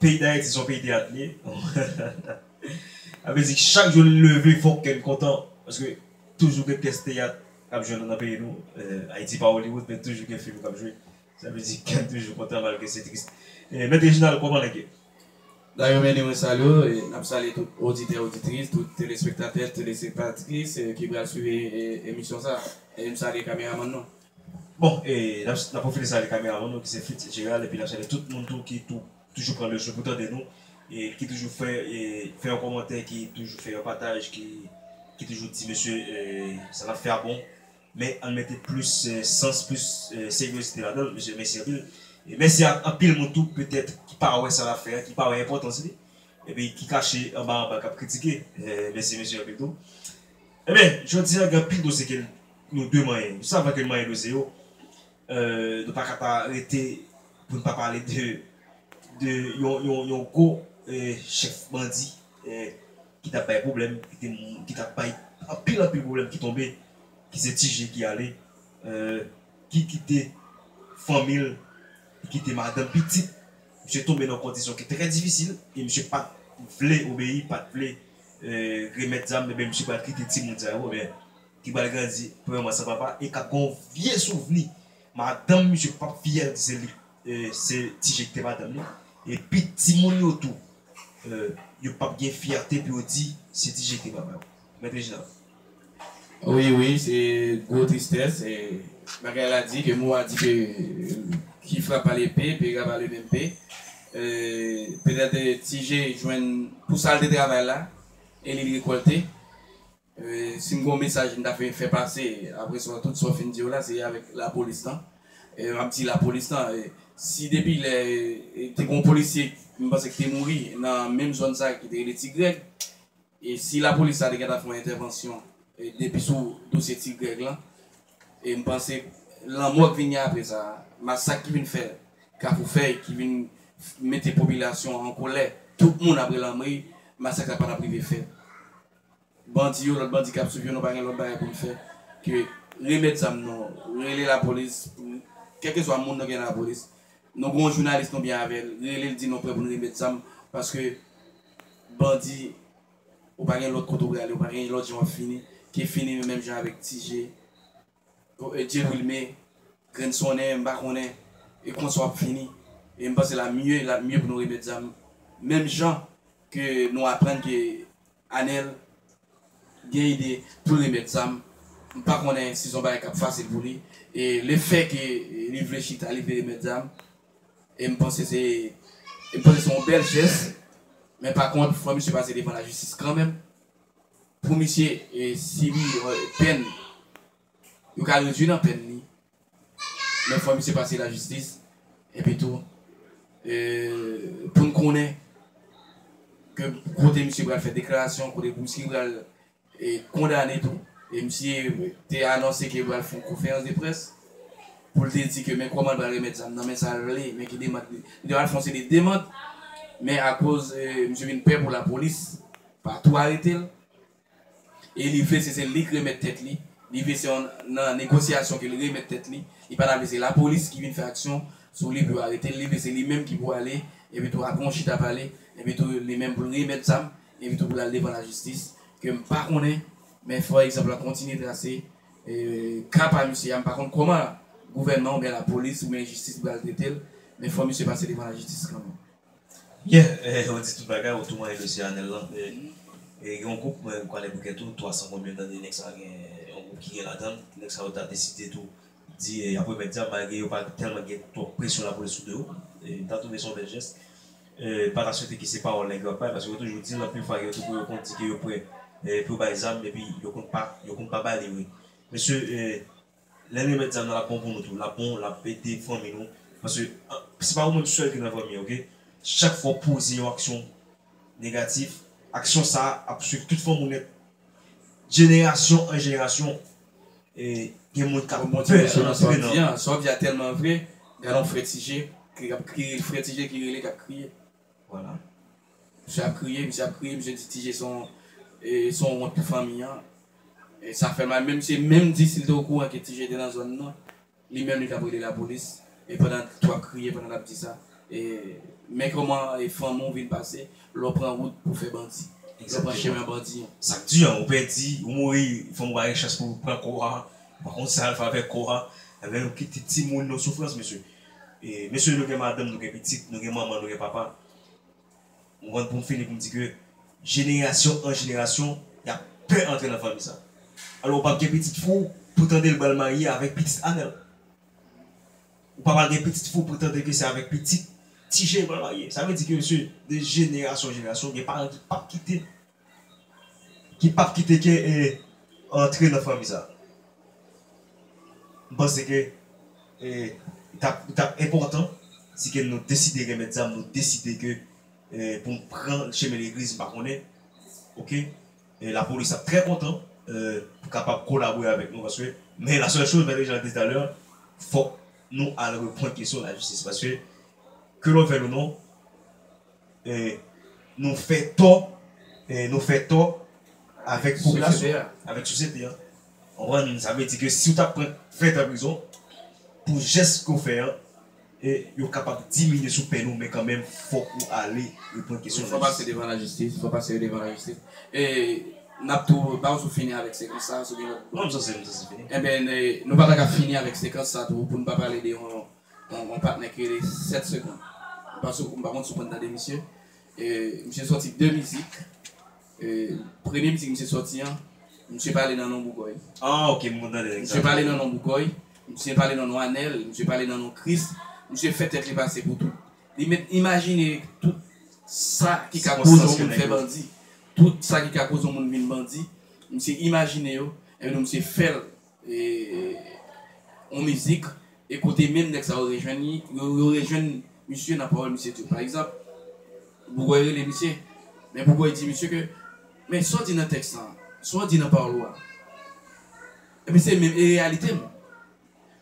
Peyi dayiti son peyi teyat li ye sa vle di chak jou n leve fòk kè n kontan paske toujou gen pyès teyat kap jwe nan peyi nou ayiti pa Hollywood men toujou gen fim kap jwe sa vle di kè n toujou kontan malgre se tris mèt Reginald kòman nèg yo. Dayou Many mwen salye w e nap salye tout oditè oditris tout telespektatè telespektatris ki pral swiv emisyon sa e m salye kameramann nou. Bon e nap profite salye kameraman nou ki se Fritz Gerald epi nap salye tout moun tou ki tou toujou pran le swen pou tande nou e ki toujou fè e fè yon kòmantè ki toujou fè yon pataj ki ki toujou di mesye e sa nap fè a bon men ann mete plis sans plis seryozite ladanl mesye mèsi anpil e mèsi ak anpil moun tou petèt ki pa wè sa nap fè a ki pa wè enpòtans li epi ki kache anba anba kap kritike mèsi mesye anpil tou enben jodi a gen anpil dosye ke Nou de manyen. Nou savan ke nou manyen dwe se yo. Nou pa ka pa rete pou n pa pale de yon gwo chèf bandi ki tap bay pwoblèm, ki tap bay anpil anpil pwoblèm ki tonbe, ki se Ti Je ki ale, ki kite fanmi l, ki kite madanm, pitit. Misye tonbe nan kondisyon ki trè difisil e misye pat vle obeyi, pat vle remèt zam, misye pral kite timoun sa yo. Ki pral grandi premyèman san papa e k ap gen yon vye souvni madanm misye k pap fyè di se li se Ti Je ki te madanm li. E pi timoun yo tou yo pap gen fyète pou yo di se Ti Je ki te papa yo. Mèt Reginald. Wi, wi, se gwo tristès. Bagay la di ke mou a di ke ki frape a lepe pe rappe a le menm pe. Petèt Ti Je jwenn pou sa l te travay la e li rekòlte. Sim gon mesaj m ta fè fè pase aprè sa tout sa w fin di yo la se avèk lapolis lan map di lapolis lan si depi lè te gon polisye m panse ki te mouri nan menm zòn sa ki te rele ti grèg si lapolis la te gentan fè yon entèvansyon depi sou dosye ti grèg lan m panse lanmò ki vin gen aprè sa masak ki vin fè kafou fèy ki vin mete popilasyon an kolè tout moun ap rele anmweyy masak sa patap rive fèt. bandi yo lòt bandi kap swiv yo nou pa gen lòt bagay poun fè ke remèt zam nou rele lapolis pou kèlkeswa moun nou gen nan lapolis nou gon jounalis nou byen avèl relel di nou prè poun remèt zam paske bandi ou pa gen lòt kote ou prale ou pa gen lòt jan wap fini ke fini menm jan avèk tije. Dye wilme grenn sonnen m pa konnen e konsa wap fini e m panse la mye lap mye pou nou remet zam menm jan ke nou aprann ke anel gen ide poul remet zam m pa konnen si son bagay kap fasil pou li e le fè ke li vle chita li vle remet zam e m panse se e m panse se yon bèl jès men pa kont fò misye pase devan la jistis kanmenm. Pou misye si li pèn yo ka redwi nan pèn li men fò misye pase la jistis epi tou poun konnen ke kote misye pral fè deklarasyon kote misye pral kondane tou e misye te anonse ke pral fon konferans de près poul te di ke men kòman pral remèt zam nan men sal vle men ki demand li te pral fon se de demand men akoz misye vin pè pou la polis. Pa tou arete l. E li vle se se li k remèt tèt li. Li vle se yon nan negosyasyon ke li remèt tèt li. Li pa ta vle se lapolis ki vin fè aksyon sou li pou yo arete l. Li vle se li menm ki pou ale epi tou apre yon chita pale epi tou li menm pou l remèt zam epi tou pou l al devan lajistis ke m pa konnen men fò egzanp lan kontinye trase ka pa misye a. M pa konn kòman gouvènman oubyen lapolis oubyen jistis pral trete l men fò misye pase devan lajistis kanmenm. Yeah ou di tout bagay ou tou manyen dosye anel lan gen yon group mwen kwale bouke tou 300 konbyen tande nèg sa gen yon group ki gen ladann nèg sa yo ta deside tou di yap remèt dyab malgre yo pa tèlman gen twòp presyon lapolis sou do yo m ta twouve se yon bèl jès m pata swete ke se pawòl nèg yo ap bay paske yo toujou dil anpil fwa gen tou yo konn di ke yo prè pou yo bay zam epi yo konn pa yo konn pa bali vre mesye Lè n remèt zam nan lap bon pou nou tou lap bon lap ede fanmi nou paske se pa ou menm sèl ki nan fanmi an ok chak fwa w poze yon aksyon negatif aksyon sa ap swiv tout fanmi w nèt jenerasyon an jenerasyon e gen moun kap pè antre nan Sa w di a tèlman vre gadon frè Ti Je kap kriye frè Ti Je ki rele kap kriye. Voilà. Misye ap kriye, misye ap kriye, misye di Tije son son wont pou fanmi an. E sa fè mal men misye menm di si l te okouran ke Tije te nan zòn nan, li menm li t ap rele lapolis. E pandan tou ap kriye pandan l ap di sa. E men kòman e fanmi w vin pase lè w pran wout pou fè bandi. Lè w pran chemen bandi an. Sa k di an, ou pèdi, ou mouri, fanmi w pa gen chans pou pran kò a, ou pa konn sa y al fè avèk kò a. Enben nou kite timoun nan soufrans mesye. Mesye nou gen madanm nou gen pitit nou gen manman nou gen papa m konn poum fini poum di ke jenerasyon an jenerasyon yap pè antre nan fanmi sa alò ou pap gen pitit fou pou tande l bal marye avèk pitit anèl ou pa pral gen pitit fou pou tande ke se avèk pitit tije l pral marye sa vle di ke mesye de jenerasyon an jenerasyon gen paran ki pap kite Ki pap kite ke e antre nan fanmi sa. M panse ke e tap li tap enpòtan si ke nou deside remèt zam nou deside ke e poun pran chemen legliz m pa konnen ok e lapolis ap trè kontan e pou kapab kolabore avèk nou paske men la sèl choz mèt Reginald di talè fòk nou al reprann kesyon lajistis paske ke lòvel ou non. Nou fè tò Nou fè tò Avèk popilasyon an Avèk sosyete an Ou konprann sa vle di ke si ou ta pran 20 tan prizon Pou jès ke ou fè an Yo kapab diminye sou pèn ou men kanmenm fòk ou ale Reponn kesyon lajistis Fòk pase devan lajistis Fòk pase yo devan lajistis E nap tou ba ou sou fini avèk sekans sa a sou gen lòt Non m sanse m sanse fini Enben nou pa ta ka fini avèk sekans sa tou pou nou pa pale de yon Bon gon patnè ki rele 7 seconde m pa sou m pa konn si w konn tande misye misye sòti 2 mizik premye mizik misye sòti an misye pale nan non bougòy misye pale nan non bougòy misye pale nan non anèl misye pale nan non kris misye fè tèt li pase pou tout li mèt imajine tout sa ki ka koz yon moun fè bandi tout sa ki ka koz yon moun vin bandi misye imajine yo epi nou misye fè l yon mizik e kote menm nèg sa yo rejwenn li, yo rejwenn misye nan pawòl misye di yo. Pa egzanp, Bougòy rele misye, men Bougòy di misye ke, men sa w di nan tèks lan an, sa w di nan pawòl ou a, men se menm e reyalite m.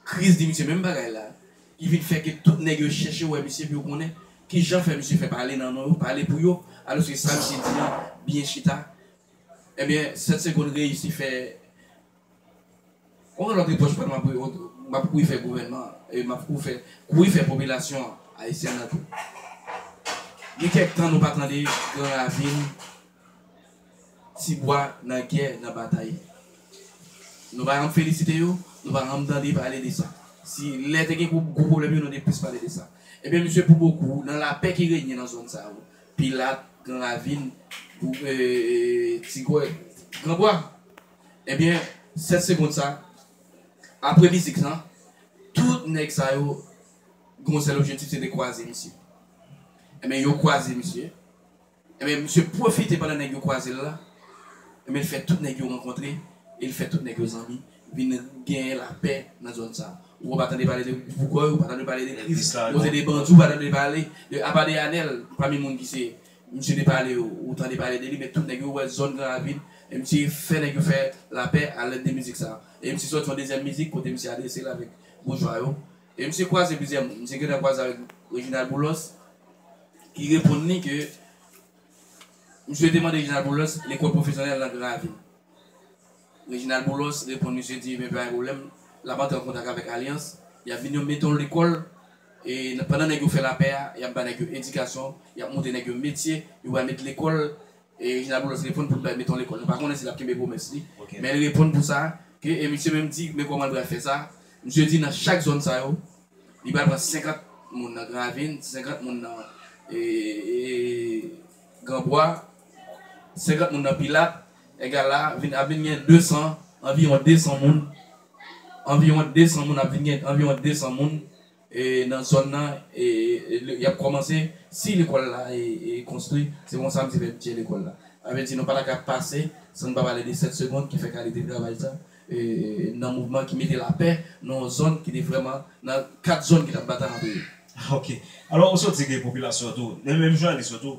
Christ di misye menm bagay la, ki vin fè ke tout nèg yo chèche wè misye pou yo konnen ki jan fè misye fè pale nan non yo, pale pou yo, alòske sa misye di an byen chita. Ebyen, 7 segonn reyisi fè. Konbyen lòt epòch pral map ri ont map kouri fè gouvènman an e map kou fè kouri fè popilasyon an ayisyèn nan tou gen kèk tan nou pa tande gran ravin ti bwa nan gè nan batay nou pa janm felisite yo nou pa janm tande pale de sa si lè te gen gwo pwoblèm yo nou te plis pale de sa ebyen misye pou bokou nan lapè ki renye nan zòn sa yo pilat gran ravin ti gòy gran bwa. Ebyen 7 segond sa apre mizik lan tout nèg sa yo gen yon sèl objetif se te kwaze misye ebyen yo kwaze misye ebyen misye pwofite pandan nèg yo kwazel la ebyen l fè tout nèg yo rankontre e l fè tout nèg yo zanmi vin genyen lapè nan zòn sa ou pa tande pale de Boukòy ou pa tande pale de Kris ou tande de bandi ou pa tande pale apa de Anèl pami moun ki se Misye te pale ou tande pale de li men tout nèg yo wè zòn gran ravin e misye fè nèg yo fè lapè a lèd de mizik sa e misye sòti yon dezyèm mizik kote misye adrese l avèk boujwa yo e misye kwaze plizyè moun misye gentan kwaze avèk Reginald Boulos ki reponn li ke misye te mande Reginald Boulos lekòl pwofesyonèl nan gran ravin. Reginald Boulos reponn misye di ebyen pa gen pwoblèm l ap antre an kontak avèk alyans y ap vin yon meton lekòl e pandan nèg yo fè lapè a y ap ba nèg yo edikasyon y ap montre nèg yo metye yo pral met lekòl e Reginald Boulos reponn pou l bay meton lekòl nou pa konnen si l ap kenbe pwomès li men l reponn pou sa ke e misye menm di men kòman l pral fè sa misye di nan chak zòn sa yo li pral pran 50 moun nan gran ravin 50 moun nan e gran bwa 50 moun nan pilat. Egal la vin ap vin gen 200 anviwon 200 moun anviwon 200 moun ap vin gen anviwon 200 moun e nan zòn nan e e y ap kòmanse si lekòl la e e konstwi se konsa m te fè bidjè lekòl la sa vle di nou pa ta ka pase san n pa pale de 7 segond ki fè kalite travay sa e e nan mouvman ki mete lapè nan yon zòn ki te vrèman nan 4 zòn ki t ap batay antre yo. Ok. Alò ou sot di gen popilasyon tou men menm jounalis yo tou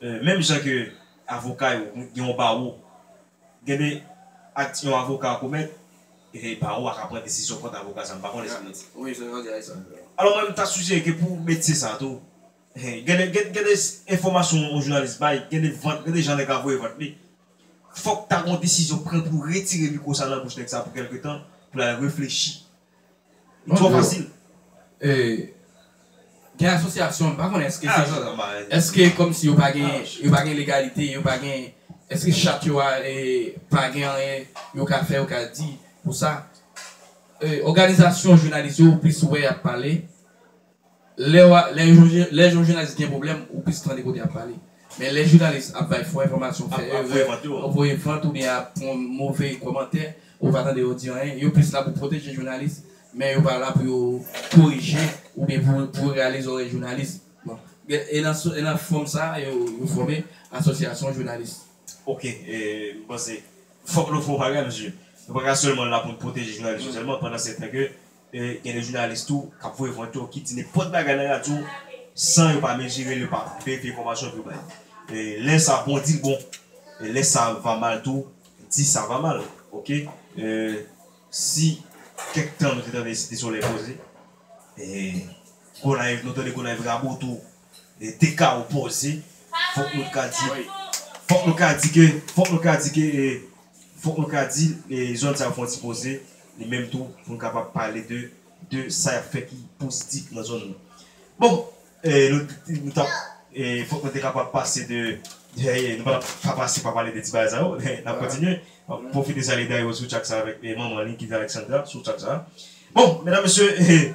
Menm jan ke avoka yo gen yon bawo, gen de akts yon avoka komèt, e bawo a ka pran desizyon kont avoka sa, m pa konnen si m nan di. Wi, se yon bagay sa. Alò mwen m ta sijere ke pou metye sa tou, gen de, gen de enfòmasyon yon jounalis bay, gen de vant, gen de jan nèg la voye vant li, fòk ta gen yon desizyon pran pou retire mikwo sa nan bouch nèg sa pou kèlke tan, pou l al reflechi Twò fasil. Gen asosyasyon, m pa konnen eske se, eske kòmsi yo pa gen, yo pa gen legalite, yo pa gen, eske chat yo a pa gen anyen yo ka fè, yo ka di pou sa. Òganizasyon jounalis yo ou plis wè y ap pale. Lè yon jounalis gen pwoblèm ou plis tande kote yap pale men lè jounalis ap bay fo enfòmasyon fè erè ap voye vant oubyen ap pran move kòmantè ou pa tande yo di anyen yo plis la pou pwoteje jounalis men yo pa la pou yo korije oubyen pou rale zòrèy jounalis e nan fòm sa yo fòme asosyasyon jounalis. Ok m panse fòk nou fè yon paragay paske nou pa ka sèlman la pou n pwoteje jounalis yo sèlman pandan setan ke. Gen de jounalis tou k ap voye vant yo, ki di nenpòt bagay nan radyo san yo pa mezire l, yo pa verifye enfòmasyon epi yo bay. Lè sa bon di l bon, lè sa va mal tou di sa va mal. Ok si kèk tan nou te tande Site Solèy poze, Gonayiv nou tande Gonayiv rabotou. te ka opoze, fòk nou t ka di, fòk nou ka di ke, fòk nou ka di ke, fòk nou ka di zòn sa yo fon ti poze li menm tou pou n kapab pale de, de sa y ap fè ki pozitif nan zòn nou. Bon, nou t ap, fòk nou te kapab pase de, nou pa t ap ka pase pa pale de ti bagay sa yo, n ap kontinye, m ap pwofite salye Dayou sou tchak sa avèk manman li ki rele Alexandra sou tchak sa. Bon, medam mesye.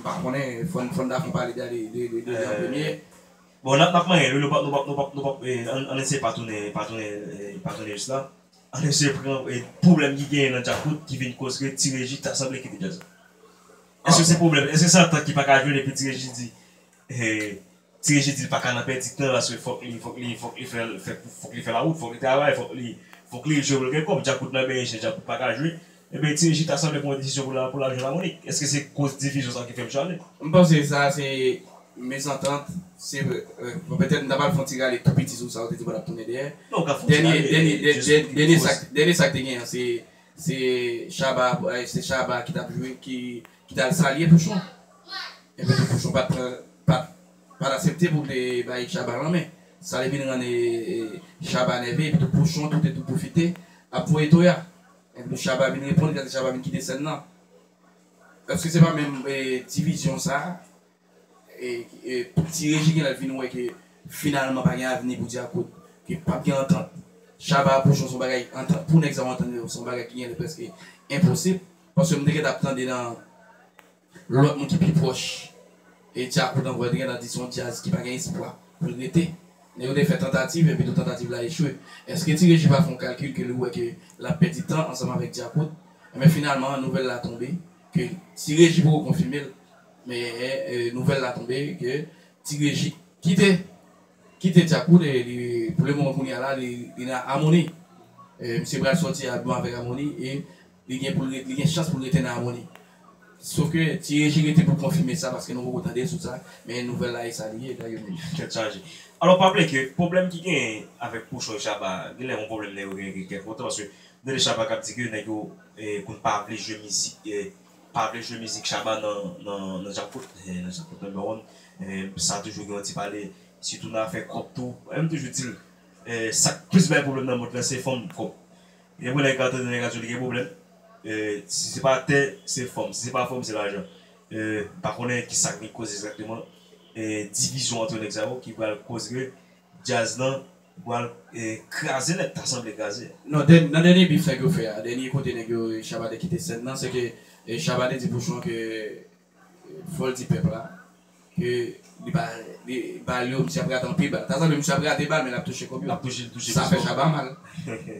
M pa konnen, fò n Daphne pale de li an premye. Bon n ap manyen l wi, nou pap, ann eseye pa tounen, pa tounen, pa tounen jis la. Ann eseye pran pwoblèm ki genyen nan Djakout ki vin koz ke Ti Reji ta sanble kite djaz la. Èske se pwoblèm, èske se antant ki pa ka jwenn epi Ti Reji di. Ti Reje di l pa ka nan pèdi tan paske fòk li fòk li fòk li fè fòk li fè lawout, fòk li travay, fòk li fòk li jwe pou l gen kòb. Djakout nan benyen chen Djakout pa ka jwe. Ebyen Ti Reji ta sanble pran yon desizyon pou l al pou l al jwenn Lamonik. Èske se koz divizyon sa ki fè misye ale? M panse sa a se mezantant, se bon petèt m ta pral fè yon ti rale tou piti sou sa ou te di pa t ap tounen dèyè. Non, w ka fè yon ti rale jis pou ki koz? Dènye dènye sa dènye sa k te gen an se se Shabba se Shabba ki t ap jwe ki ki t al salye Pouchon enben tou Pouchon pat pran pat pat asepte pou l te bay Chaba lanmen sa te vin rann Chaba nève epi tou Pouchon tou te tou pwofite ap voye toya enpi tou Chaba vin reponn epi se sa ki fè Chaba vin kite sèn nan èske se pa menm divizyon sa. Ti Reji gen lè l fin wè ke finalman pa gen avni pou Dyakout, ke pap gen antant. Shaba a Pouchon se yon bagay antant, pou nèg sa yo antann yo se yon bagay ki gen lè prèske enposib. Paske m te gentan ap tande nan lòt moun ki pi pwòch Dyakout ankò, yo te gentan di se yon djaz ki pa gen espwa pou l rete. Nèg yo te fè tantativ epitou tantativ la echwe. Eske Ti Reji pa fè yon kalkil ke li wè ke l ap pèdi tan ansanm avèk Dyakout? Enben finalman nouvèl la tonbe ke Ti Reji poko konfime l. Men nouvèl la tonbe ke Ti Reji kite kite Djakout e li pou le moman kounya la li nan Amoni. Misye pral sòti album avèk Amoni e li gen pou li gen chans pou l rete nan Amoni. Sof ke Ti Reji rete pou konfime sa paske nou poko tande l sou sa men nouvèl la e sa li ye la yo menm. Tèt chaje. Alò pa bliye ke pwoblèm ki genyen avèk Pouchon e Shabba a genlè yon pwoblèm nèg yo genyen depi kèk lontan paske nou tande Shabba k ap di ke nèg yo konn pa vle jwe mizik pa vle jwe mizik Shabba nan nan djakout eh nan djakout number one eh sa toujou gen yon ti pale sitou nan afè kòb tou eh m toujou dil eh sak plis bay pwoblèm nan mond lan se fanm kòb gen pou nèg la tande nèg la toujou li gen pwoblèm eh si se pa tè se fanm si se pa fanm se lajan eh m pa konnen kisak vin koz egzakteman eh divizyon antre nèg sa yo ki pral koz ke Djaz lan pwal kraze nèt ta sanble kraze. Non nan dènye bif nèg yo fè a dènye kote nèg yo Shabba te kite sèn nan se ke Shabba te di Pouchon ke fòl di pèp la ke li pa li bal yo misye ap rate anpil bal ta sanble misye ap rate bal men lap touche kòb yo sa fè Shabba mal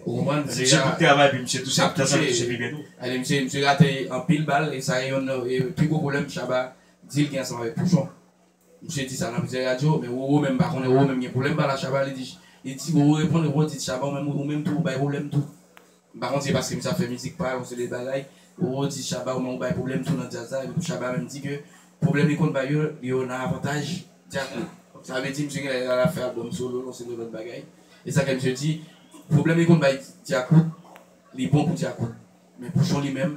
ou konprann se misye pap travay epi misye touche ta sanble touche pi byen tou ale misye misye rate anpil bal e sa e yonn nan pi gwo pwoblèm Shabba dil gen ansanm avèk Pouchon. Misye di sa nan plizyè radyo, men Roro menm pa konnen, Roro menm gen pwoblèm pal a Shabba, li di, li di Roro reponn, Roro di Shabba ou menm, ou menm tou ou bay pwoblèm tou. M pa konn si se paske misye ap fè mizik pal yon seri bagay, Roro di Shabba ou menm ou bay pwoblèm tou nan djaz la, epi tou Shabba menm di ke pwoblèm li konn bay yo, li yo nan avantaj djaz la. Sa vle di misye gen lè lal ap fè album solo l, yon seri lòt bagay. E sa fè misye di, pwoblèm li konn bay Djakout, li bon pou Djakout, men Pouchon li menm,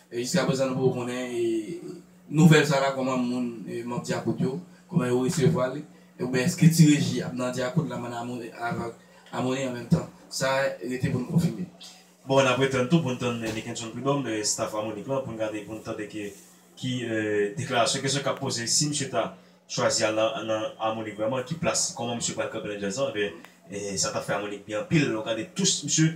Jiska prezan nou poko konnen nouvèl sa la kòman moun manb Dyakout yo kòman yo resevwa li oubyen eske ti Reji ap nan Dyakout la man avk Amoni an menm tan sa rete poun konfime. Bon nap ret tann tou poun tann Nick Henson Prud'homme staff Harmonik lan poun gade poun tande ki deklarasyon kesyon kap poze si misye ta chwazi al nan Harmonik vrèman ki plas kòman misye pral kanpe nan djaz lan ebyen sa tap fè Harmonik byen anpil lè w gade tous misye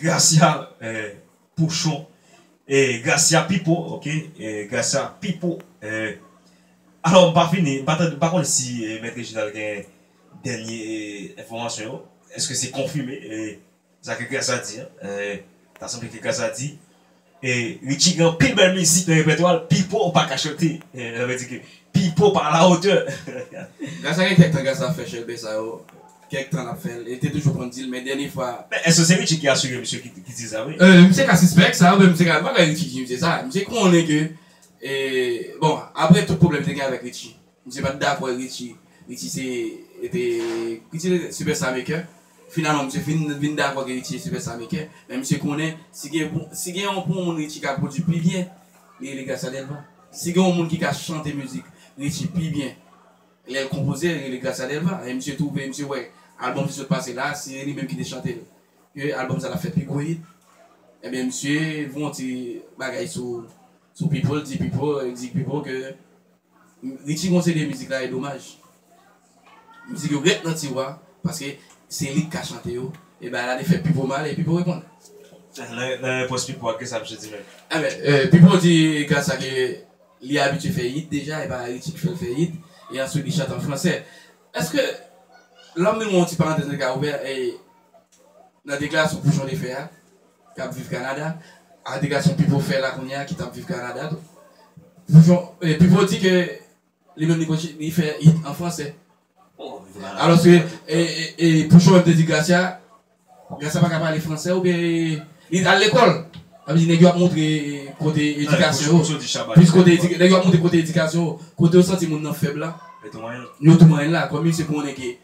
Gracia pouchon Gracia pipo ok Gracia pipo Alò m pa fini m pa tande m pa konnen si mèt Reginald gen dènye enfòmasyon yo èske se konfime sa ke Gracia di an ta sanble ke Gracia di Richie gen anpil bèl mizik nan repètwa l, Pipo ou pa ka chante, sa vle di ke Pipo pa a la hauteur. Gras a gen kèk tan Gras ap fè chèlbè sa yo, kèk tan lap fè l, e l te toujou konn di l, men dènye fwa. Men èske se Richie ki asire misye ki di sa vre? Misye ka sispèk sa, men misye ka, pa bay Richie di misye sa, misye konnen ke, bon, aprè tout pwoblèm li te gen avèk Richie. Misye pat dakò e Richie Richie se te Richie se te sipèsta mekè Finalman misye fin vin dakò ke Richie se sipèsta mekè Men misye konnen si gen pou si gen yon pou yon moun Richie ka pwodui pi byen li rele Gracia Delva Si gen yon moun ki ka chante mizik Richie pi byen lè l konpoze li rele Gracia Delva E misye twouve misye wè albòm ki sot pase la a si se li menm ki te chante l ke albòm sa t ap fè pi gwo hit Ebyen misye voun ti bagay sou sou Pipo l di Pipo l di Pipo ke Richie gon CD mizik la e domaj mizik yo ret nan tiwa paske se li ki ka chante yo e bagay la te fè Pipo mal e Pipo reponn. Nan repons Pipo a kisa misye di menm? Ebyen Pipo di gras a ke li abitye fè hit deja e pa Richie ki fèl fè hit e answit li chante an fransè. Eske lòm nou yon ti parantèz nou te ka ouvè nan deklarasyon Pouchon te fè a k ap viv Kanada, alegasyon Pipo fè la kounye a ki t ap viv Kanada tou. Pipo di ke li menm li fè hit an fransè. Alòske Pouchon menm te di Gracia, Gracia pa ka pale fransè oubyen li t al lekòl. Sa vle di nèg yo ap montre kote edikasyon yo, plis kote nèg yo ap montre kote edikasyon yo, kote yo santi moun nan fèb la, yo toumayen l la. Kòm misye konnen ke.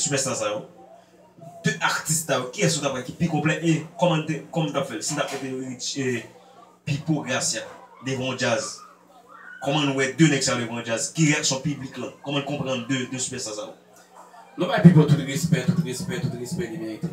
Superstar sa yo 2 atis sa yo kiyès ou tap wè ki pi konplè e kòman nou te kòman nou tap fèl si nou tap mete Richie Pipo Gracia devan yon djaz kòman nou wè 2 nèg sa yo devan yon djaz ki reyaksyon piblik lan kòman nou konprann 2 superstar sa yo. Nou bay Pipo tout respè tout respè tout respè li merite.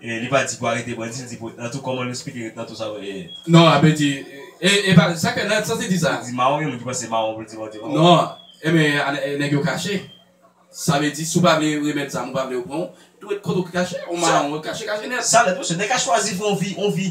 Li pa di pou arete bandi li di pou ret nan tou koman nou esplike ret nan tou sa vle e. Non ape di e epa sak fè nan santi di sa. Li di mawon gen moun ki panse mawon pou l di bandi mawon. Non enben nèg yo kache sa vle di si w pa vle remèt zam ou pa vle yo pran w tou ret kote w kache on mawon kache kache nèt. Sa nèt mesye nèg ka chwazi viv on vi on vi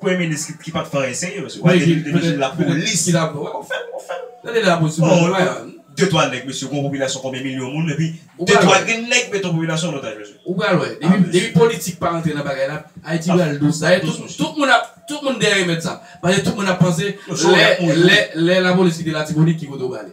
Premye minis ki pat fè anyen serye mesye wap di li te lapolis wap fèl wap fèl bon de twa nèg mesye gon popilasyon konbyen milyon moun epi de twa grenn nèg met yon popilasyon an otaj mesye ou pral wè depi politik pa rantre nan bagay la ayiti pral dous dayè tout moun ap tout moun dèyè remèd sa paske tout moun ap panse lè lè lè lapolis kite latibonit ki kote ou prale.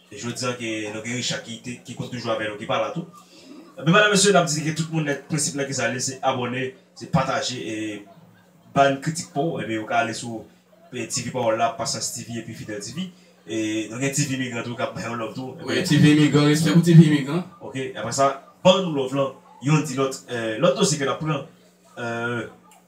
Jodi an ke nou gen Richard ki te ki konn toujou avè nou ki pa la tou ebyen madam mesye nap di ke tout moun nèt prensip lan kisa li se abòne se pataje e bann kritik paw ebyen ou ka ale sou TV pawòl la Pasyans TV epi Fidèl TV e nou gen TV imigran tou kap bay yon love tou wi TV imigran respè pou TV imigran ok aprè sa ban nou love lan yonn di lòt lòt dosye ke nap pran.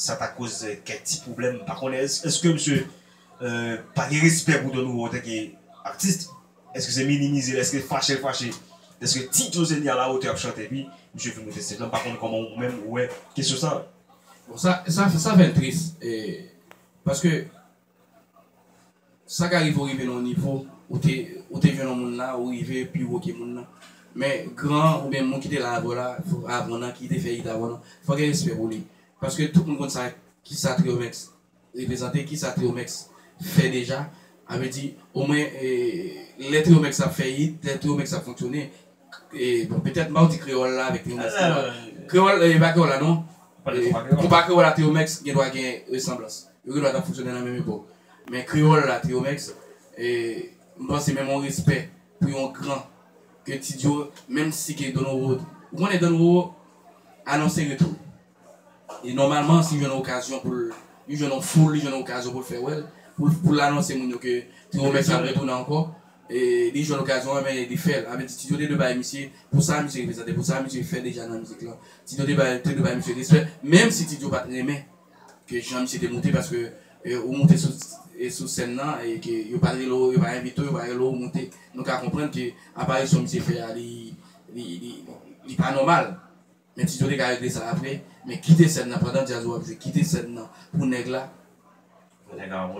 Sa ta koz kèk ti pwoblèm m pa konnen eske misye pa gen respè pou Don Wu antanke atis eske se minimize l eske fache l fache deske Ti Josenie a la hauteur ap chante epi misye vin mete stage la m pa konnen kòman ou menm ou wè kesyon sa. Bon sa fè l tris paske Sa ka rive ou rive nan yon nivo, ou te ou te jwenn yon moun la, ou rive pi wo ke moun nan. Men gran an oubyen moun ki te la avèw la avan w nan, ki te fè it avan w nan, fò w gen respè pou li. Paske tout moun konn sa kisa Trio Mix reprezante, kisa Trio Mix fè deja. A vle di, omwen lè Trio Mix ap fè it, lè Trio Mix ap fonksyone, Bon, petèt Mardi Kreyòl la avèk Lingwis Kreyòl. Kreyòl, e pa Kreyòl la non. Ou pale konpa Kreyòl. Konpa Kreyòl a Triyomèks gen dwa gen resanblans. Yo gen dwa t ap fonksyone nan menm epòk. Men Kreyòl la Triyomèks, e m panse menm yon respè pou yon gran ke Ti Dio, menm si ke Don Roro, ou konnen Don Roro anonse retou l. E nòmalman si li jwenn okazyon pou l, li jwenn yon foul, li jwenn yon okazyon pou l fè wè l, pou l anonse moun yo ke Trio Mix ap retounen ankò, li jwenn okazyon an men li fè l. Sa vle di Tito te dwe bay misye pou sa misye reprezante, pou sa misye fè deja nan mizik lan. Tito te dwe bay misye respè, menm si Tito pa t renmen ke jan misye te moute paske ou moute sou sèn nan e ke yo pa rele w, yo pa envite w, yo pa rele w moute, nou ka konprann ke aparisyon misye fè a li pa nòmal. Men Tito te ka regle sa apre men kite sèn nan pandan djaz ou ap jwe kite sèn nan pou nèg la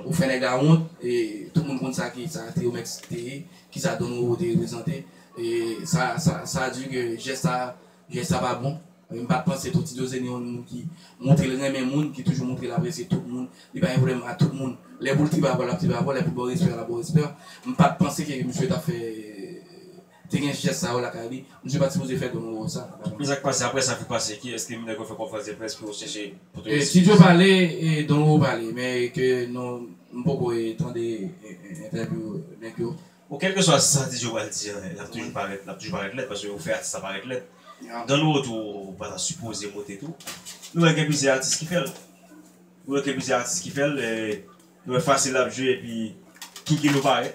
ou fè nèg la wont e tout moun konn sa ki sa Triomex te ye ki sa Don Roro te reprezante e sa sa sa di ke jès sa jès sa pa bon e m pa t panse tou Tito se ni yon moun ki montre l renmen moun ki toujou montre l apresye tout moun li pa gen pwoblèm a tout moun lè pou l tripe avè w l ap tripe avè w lè pou l ba w respè a l ap ba w respè m pa t panse ke misye t ap fè Te gen jès sa yo lakay li. Misye pat sipoze fè grenn wowo sa. Men sak pase aprè sa ki pase ki eske minè kwe fè konfrans de près pou yo chèche pou tou eskiz. Studio pale Don Wowo pale men ke nou m poko tande entèvyou nèg yo. Bon kelke swa sa DJ pral di an lap toujou parèt lap toujou parèt lèd paske ou fè atis la parèt lèd Don Wowo tou pata sipoze moute tou nou wè gen plizyè atis ki fèl nou wè ke plizyè atis ki fèl nou wè fasil lap jwe epi King Kino parèt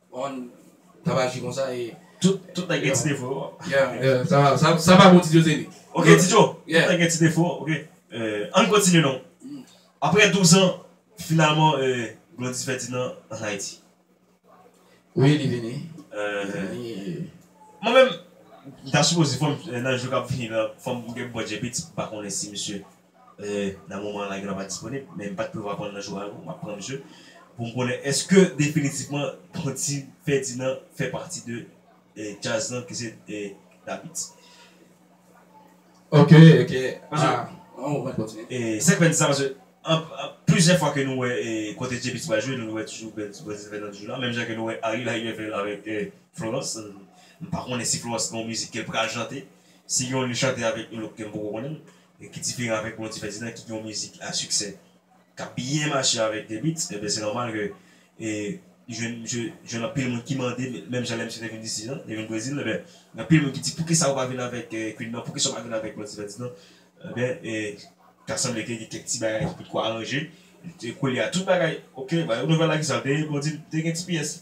On tap aji konsa e. Tout tout nèg gen ti defo yo. Yeah sa va sa sa pa bon ti José li. Ok ti Joe tout nèg gen ti defo ok. Ann kontinye non. Aprè 12 an finalman Glody Ferdinand an Ayiti. Wi li vini. Mwen menm m ta sipoze fò m nan jou kap vini la fò m gen bon djebit m pa konnen si misye. Nan moman an la gen lwa pa disponib, men m pa t prevwa konn nan jou a yo. M ap pran msye pou m konnen èske definitivman Don T Ferdinand fè pati de djaz lan ke se Davids. Ok, ok. An mwen kontinye. Sa k fè n di sa paske plizyè fwa ke nou wè kote Djebits pral jwe nou wè toujou Don T Ferdinand toujou la menm jan ke nou wè Ariel Haïlien fè l avèk Florence. M pa konnen si Florence gen yon mizik ke l pral chante. Si gen yon li chante avèk yon lòt ke m poko konnen. e ki diferan avèk yon divès idan ki gen yon mizik a siksè k ap byen mache avèk T-beatz enben se nòmal ke li jwenn misye jwenn anpil moun ki mande menm jan lè misye te vin disi an te vin Brezil enben gen anpil moun ki di poukisa ou pa vin avèk Queen nan poukisa ou pa vin avèk yon divès idan enben ta sanble ke gen kèk ti bagay ki potko aranje koulye a tout bagay ok ba yo nouvèl la kisa l te reponn di m te gen ti pyès.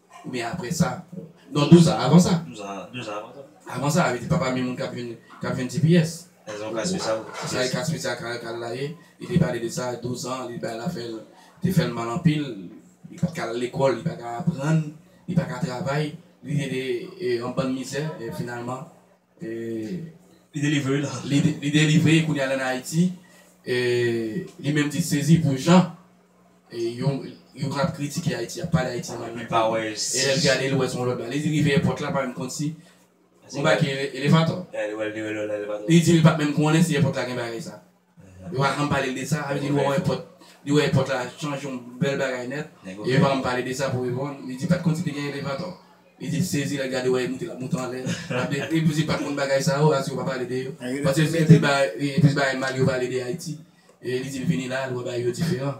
Oubyen apre sa? Non, douz an avan sa. Douz an, douz an avan sa. Avan sa, a vle di pa pami moun k ap vin, k ap vin ti pyès. Nan yon ka espesyal. Se sa e ka espesyal ka, ka la ye. Li te pale de sa, douz an, li bay la fè l, te fè l mal anpil. Li pa t ka al lekòl, li pa ka aprann, li pa ka travay. Li te, e, an bann mizè. E finalman, Li delivre la. Li delivre kounye a lan Ayiti. Li menm di sezi pou jan yo kap kritike Ayiti, ap pale Ayiti mal. Li pa wè. E lè li gade li wè son lòt bagay. Li rive èpòt la pa menm konn si yon bagay ki elevatò. Li wè li wè lòt elevatò. Li di li pat menm konnen si èpòt la gen bagay sa a. Yo pa janm pale l de sa. Sa vle di li wè èpòt, li wè èpòt la chanje yon bèl bagay nèt e yo pa janm pale de sa pou reponn. Li di pat konn si te gen elevatò. Li di li sezi lè l gade wè yo moute l ap moute anlè. Sa vle di e plis li pat konn bagay sa yo as yo pa pale de yo. Paske se plis bagay, wi, plis bagay mal yo pale de Ayiti. E li di l vini la, l wè bagay yo diferan.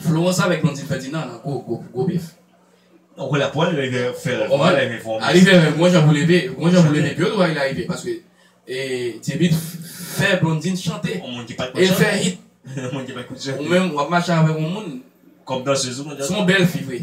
Florence avèk Blondine Ferdinand nan gwo gwo gwo bèf. Ou konnen pou al rive fèl pou al rive fòme. A rive menm gon jan pou leve, gon jan pou leve pi yo tou pa vle arive paske e Djebit fè Blondine chante. On moun ki pat konn chante. El fè hit. On moun ki pat konn chante. Ou menm wap mache avèk on moun. Kòm danseuse ou konn danse. Son bèl fi vre.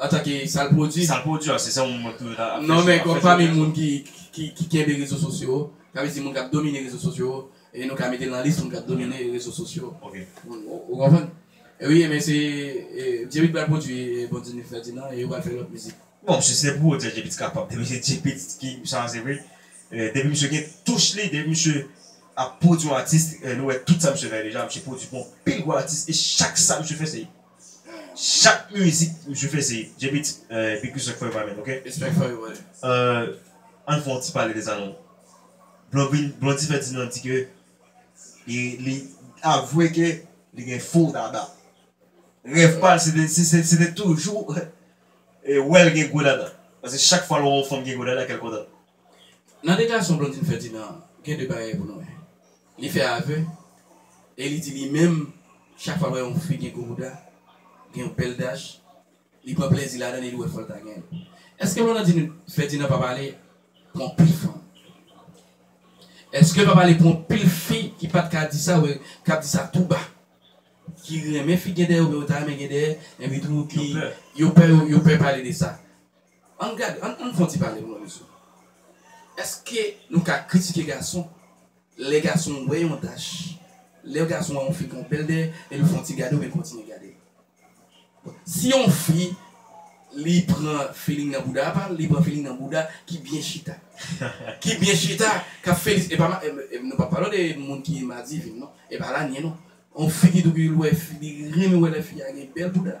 Antanke sa l pwodui. Sa l pwodui a, se sa moun mwen tou yo ta ap chèche. Non men kòm pami moun ki kenbe rezo sosyo, sa vle di moun k ap domine rezo sosyo, e nou ka mete l nan lis moun k ap domine rezo sosyo. Ok. Ou konprann? Wi e men se Djepit pral pwodui Bon Di Ni Fèdinan e yo pral fè lòt mizik. Bon si se pou ou di Djepit kapab, depi se Djepit ki sa a se vre, depi misye gen touch li, depi misye ap pwodui yon atis, nou wè tout sa misye fè deja, misye pwodui pou anpil gwo atis e chak sa misye fè se Chak mizik misye fè se JP t big respect for you my man ok Respect for you brother. Euh ann fè yon ti pale de sa non Blondine Blondie fè di nan di ke li li avwe ke li gen fo dada Rèv pa l se te se se se te toujou wè l gen gwo dada Paske chak fwa l wè yon fanm gen gwo dada kè l kontan Nan deklarasyon Blandine Ferdinand an, gen 2 bagay pou nou wè. Li fè avè e li di li menm chak fwa l wè yon fi gen gwo bouda, gen yon bèl dach, li pran plèzi ladan l e li wè fò l ta gen l. Eske Blandine Ferdinand pa pale pou anpil fanm? Eske l pa pale pou anpil fi ki pa t ka di sa oubyen k ap di sa tou ba, ki renmen fi gen dèyè oubyen yo ta renmen gen dèyè enpi tou ki yo pè yo pè pale de sa? Ann gade, ann fè yon ti pale pou mwen mesye. Eske nou ka kritike gason lè gason wè yon tach, lè yon gason wè yon fi gen bèl dèyè e li fè yon ti gade oubyen kontinye gade? Bon, si yon fi li pran feeling nan bouda pa l, li pran feeling nan bouda ki byen chita. Ki byen chita, k ap feli, e pa ma, e nou pa pale de moun ki madivin non, e pa lanye non. Yon fi ki tou ki l wè fi, li renmen wè lè fi a gen bèl bouda.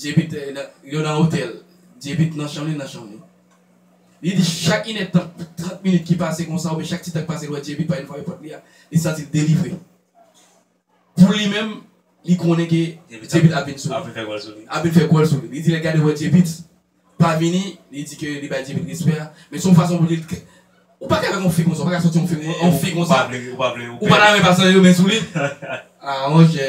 Djebit yo nan otèl. Djebit nan chanm li, nan chanm li. Li di chak inèdtan, trant minit ki pase konsa oubyen chak ti tan ki pase li wè Djebit pa vin frape pòt li a, li santi l delivre. Pou li menm, li konnen ke Djebit ap vin sou li. Ap vin fè gòl sou li. Ap vin fè gòl sou li. Li di lè l gade wè Djebit pa vini, li di ke li bay Djebit respè a. Men se yon fason pou l di l ke ou pa ka avèk yon fi konsa, ou pa ka sòti yon yon fi konsa. Ou pa vle, ou pa vle. Ou pa ta renmen pa sere men sou li. A monchè.